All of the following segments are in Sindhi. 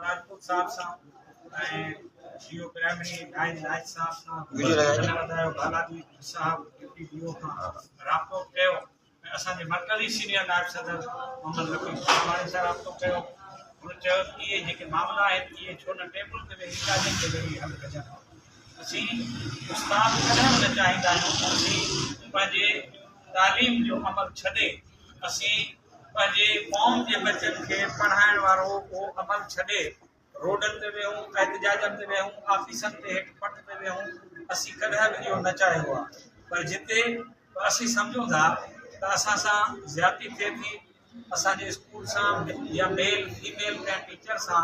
راجپوت صاحب سان ۽ ڊي او پرائمري نائين نائچ صاحب سان ڌنيواد بالاجي صاحب ڊپٽي ڊي او کان رابطو به ڪيو ۽ اسان جي مرڪزي سينيئر نائب صدر محمد لطيف شاهواڻي سان رابطو ڪيو هن چيو ته اهي جيڪي معاملا آهن اهي ڇو نه ٽيبل تي ويهي ڳالهين تي ويهي حل ڪجن اسين استاد ڪڏهن به نه چاهيندا آهيون ته اسين پنهنجي تعليم جو عمل ڇڏي اسين پنهنجي قوم جي ٻچن کي پڙهائڻ وارو اهو عمل ڇڏي روڊن تي ويهون، احتجاجن تي ويهون، آفيسن تي هيٺ پٽ تي ويهون، اسين ڪڏهن به اهو نه چاهيو آهي پر جتي به اسين سمجهون ٿا ته اسان سان زيادتي ٿئي ٿي، اسان جي اسڪول سان يا ميل فيميل ڪنهن ٽيچر سان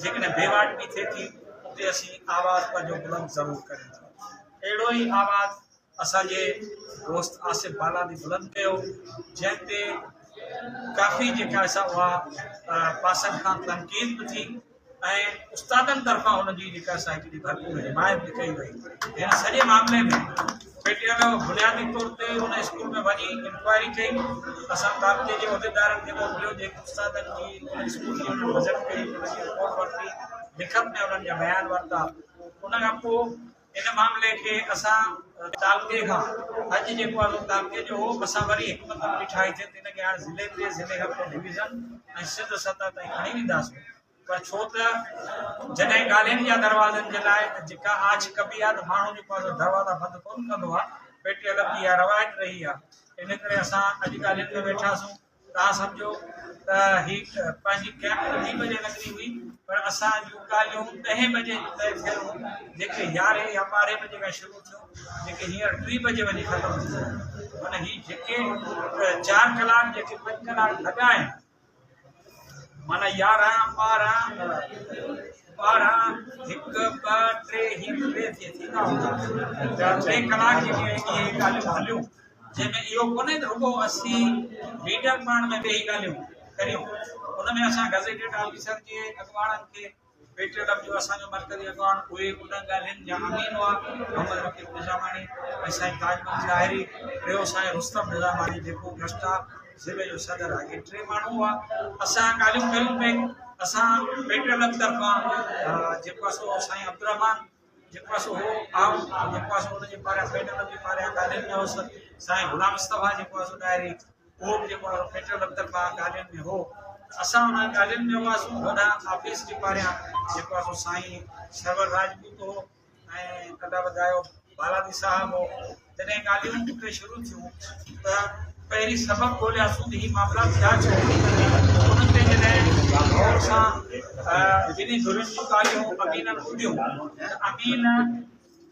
جيڪڏهن بيواٽ به ٿئي ٿي اتي اسين آواز پنهنجو بلند ضرور ڪريون ٿا. اهڙو ئي آواز اسان جي دوست آصف بالاني بلند ڪيو جنهن تي ڪافي جيڪا سا اها پاسن کان تنقيد به ٿي ۽ استادن طرفان هن جي جيڪا سا هڪڙي ڀرپور حمايت به ڪئي وئي هن سڄي معاملي ۾ پي ٽي ايل بنيادي طور تي هن اسڪول ۾ وڃي انڪوائري ڪئي اسان تعلقي جي عهديدارن کي موڪليو جيڪي استادن جي اسڪول جي وزٽ ڪئي ان جي رپورٽ ورتي لکت ۾ انهن جا بيان ورتا ان کان پوء ان معاملي کي اسان تعلقي کان اڄ جيڪو آهي سو تعلقي جو هو اسان وري حڪمت عملي ٺاهي ٿي ته ان کي هاڻي ضلعي تي ضلعي کان پوء ڊويزن ۽ سنڌ سطح تائين کڻي وينداسين پر ڇو ته جڏهن ڳالهين جا دروازن جي لاء جيڪا آڇ ڪبي آهي ته ماڻهو جيڪو آهي دروازا بند ڪونه ڪندو آهي پيٽي الف جي اها روايت رهي آهي ان ڪري اسان اڄ ڳالهين ۾ ويٺاسون توهان سمجهو ته هي پنهنجي ڪئپٽل ٽي بجي لڳڻي هئي پر اسان جون ڳالهيون ڏهين بجي جون طئي ٿيل هيون جيڪي يارهين يا ٻارهين بجي کان شروع ٿيون جيڪي هينئر ٽي بجي وڃي ختم ٿي ويون معنيٰ هي جيڪي چار ڪلاڪ جيڪي پنج ڪلاڪ لڳا آهن معنيٰ يارهن ٻارهن ٻارهن هڪ ٻه ٽي هي ٽي ٿيندا هوندا ٽي ڪلاڪ جيڪي ڳالهيون هليون جنهن ۾ اهو ڪونهي ته رڳو اسين ميڊيم پاڻ ۾ ويهي ڳالهيون ڪريون، ان ۾ اسان گزيٽيڊ آفيسر جي اڳواڻن کي پيٽي ڊپ جو اسان جو مرڪزي اڳواڻ اهي انهن ڳالهين جا امين هئا، محمد رقيب نظاماڻي ۽ سائين تاج مل ظاهري، ٽيو سائين رستم نظاماڻي جيڪو گسٽا ضلعي جو صدر آهي، اهي ٽي ماڻهو هئا، اسان ڳالهيون ڪريون پئي، اسان پيٽي ڊپ طرفان جيڪو اسان سائين عبدالرحمان جيڪو آهي سو هو آهون ۽ جيڪو آهي سو ان جي پاريان فيڊرل رب جي پاريان گارڊين ۾ هوس سائين غلام مصطفيٰ جيڪو آهي سو ڏاهري اهو به جيڪو آهي فيڊرل رب طرفان گارڊين ۾ هو اسان انهن گارڊين ۾ هئاسون وڏا آفيس جي پاريان جيڪو آهي سو سائين سرور راجپوت هو ۽ ڪنڊا وڌايو بالادي صاحب هو جڏهن ڳالهيون اتي شروع ٿيون ته پهرين سبب ڳولهياسون ته هي معاملا ٿيا ڇو؟ انهن تي جڏهن غور سان ٻنهي ڌرين جون ڳالهيون امينن ٻڌيون ته امين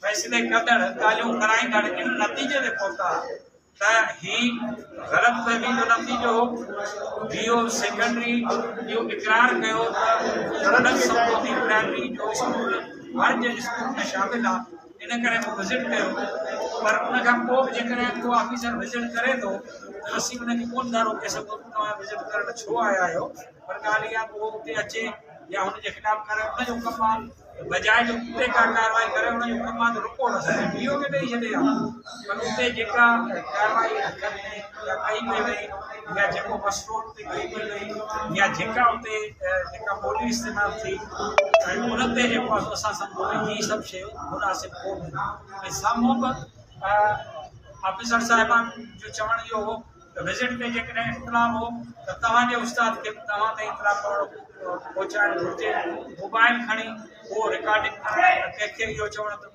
فيصلي ڪندڙ ڳالهيون ڪرائيندڙ ان نتيجي تي پهتا ته هي غلط فهمي جو نتيجو هو ڊي او سيڪنڊري اهو اقرار ڪيو ته غلط سمجهوتي پرائمري جو اسڪول هر جي اسڪول ۾ شامل آهي ان ڪري مون وزٽ ڪيو پر ان کان پوء به جيڪڏهن ڪو آفيسر وزٽ ڪري ٿو ته اسين ان کي ڪو نه ٿا روڪي سگهون ته توهان وزٽ ڪرڻ ڇو آيا آهيو پر ڳالهه اها ڪو اتي اچي يا هن جي خلاف ڪري ان جو ڪم آهي بجائي جو اتي ڪا ڪارروائي ڪري ان جو ڪم آهي ته رپورٽ اسان کي ڊي او کي ڏئي ڇڏي ها پر اتي جيڪا ڪارروائي ڪئي وئي يا جيڪو مسئلو يا جيڪا اتي جيڪا ٻولي استعمال ٿي ان تي جيڪو آسان سان سمجهه هي سڀ شيون مناسب ڪونهن ۽ سامهون به آفيسر صاحبان جو چوڻ اهو هو ته وزٽ تي جيڪڏهن اختلاف هو ته توهان جي استاد کي به توهان تي اطلاع ڪرڻو پهچائڻ گهرجي موبائل کڻي اهو رڪارڊنگ ڪرائي ۽ ڪنهن کي اهو چوڻ ته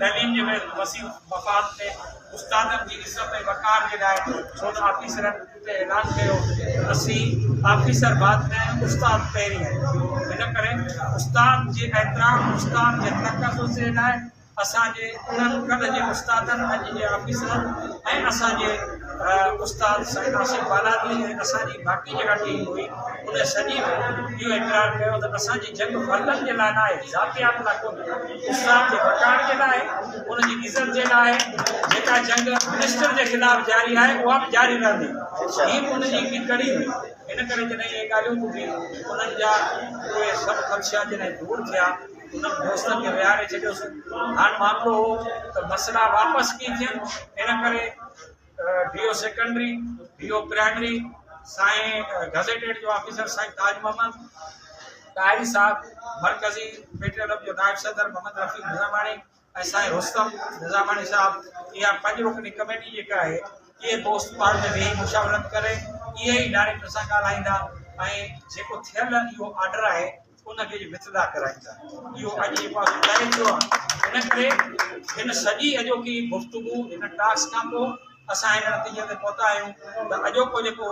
تعليم جي وسيع مفاد ۾ استادن جي عزت ۽ وقار جي لاء سول آفيسرن اتي اعلان ڪيو ته اسين آفيسر بعد ۾ آهيون استاد پهرين آهيون ان ڪري استاد جي احترام استاد جي تقدس جي لاء اسان جي انهن ڪلهه جي استادن اڄ جي آفيسرن ۽ اسان جي استاد سائين آصف بالادي ۽ اسان جي باقي جيڪا ٽيم هئي ان سڄي اهو اقرار ڪيو ته اسان جي جنگ فردن جي لاء ناهي ذاتيات لاء ڪونهي اسلام جي بچائڻ جي لاء، ان جي عزت جي لاء جيڪا جنگ منسٽر جي خلاف جاري آهي، اها به جاري رهندي. هي به ان جي هڪڙي ڪڙي هئي. ان ڪري جڏهن اهي ڳالهيون ٻڌيون، انهن جا اهي سڀ خدشا جڏهن دور ٿيا، انهن دوستن کي ويهاري ڇڏيوسون. هاڻ معاملو هو ته مسئلا واپس ڪيئن ٿين، ان ڪري. D O secondary, D O primary سائين گزيٽيڊ جو آفيسر سائين تاج محمد ٽاهري صاحب، مرڪزي پيٽروليم جو نائب صدر محمد رفيق نظاماڻي ۽ سائين رستم نظاماڻي صاحب اها پنج رڪني ڪميٽي جيڪا آهي اهي دوست پاڻ ۾ ويهي مشاورت ڪري اهي ئي ڊائريڪٽر سان ڳالهائيندا ۽ جيڪو ٿيل اهو آرڊر آهي ان کي وٿڙا ڪرائيندا. اهو اڄ جي پاسو ظاهر ٿيو آهي. ان ڪري هن سڄي اڄوڪي گفتگو هن ٽاسڪ کان پوء اسان هن نتيجي تي پهتا آهيون ته اڄوڪو جيڪو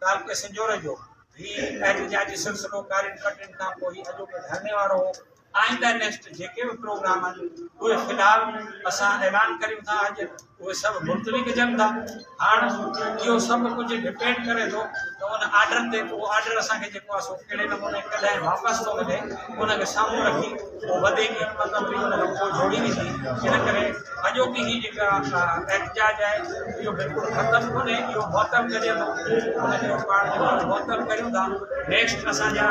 تعلقي سنجهور جو هي احتجاجي سلسلو ڪارين ڪٽين کان پوء هي اڄوڪي ڌرڻي وارو هو. آئنده نيڪسٽ جيڪي به پروگرام آهن اهي في الحال اسان اعلان ڪريون ٿا اڄ. اهي سڀ ملتوي ڪجن ٿا. هاڻ اهو سڀ ڪجهه ڊپينڊ ڪري ٿو ته ان آرڊر تي اهو آرڊر اسان کي جيڪو آهي سو ڪهڙي نموني ڪڏهن واپس ٿو ملي ان کي سامهون رکي اهو وڌيڪ حڪمت عملي ان کان پوء جوڙي ويندي ان ڪري اڄوڪي هي جيڪا احتجاج آهي اهو بلڪل ختم ڪونهي اهو معطل ڪجي ٿو ان کي پاڻ جيڪو معطل ڪريون ٿا نيڪسٽ اسان جا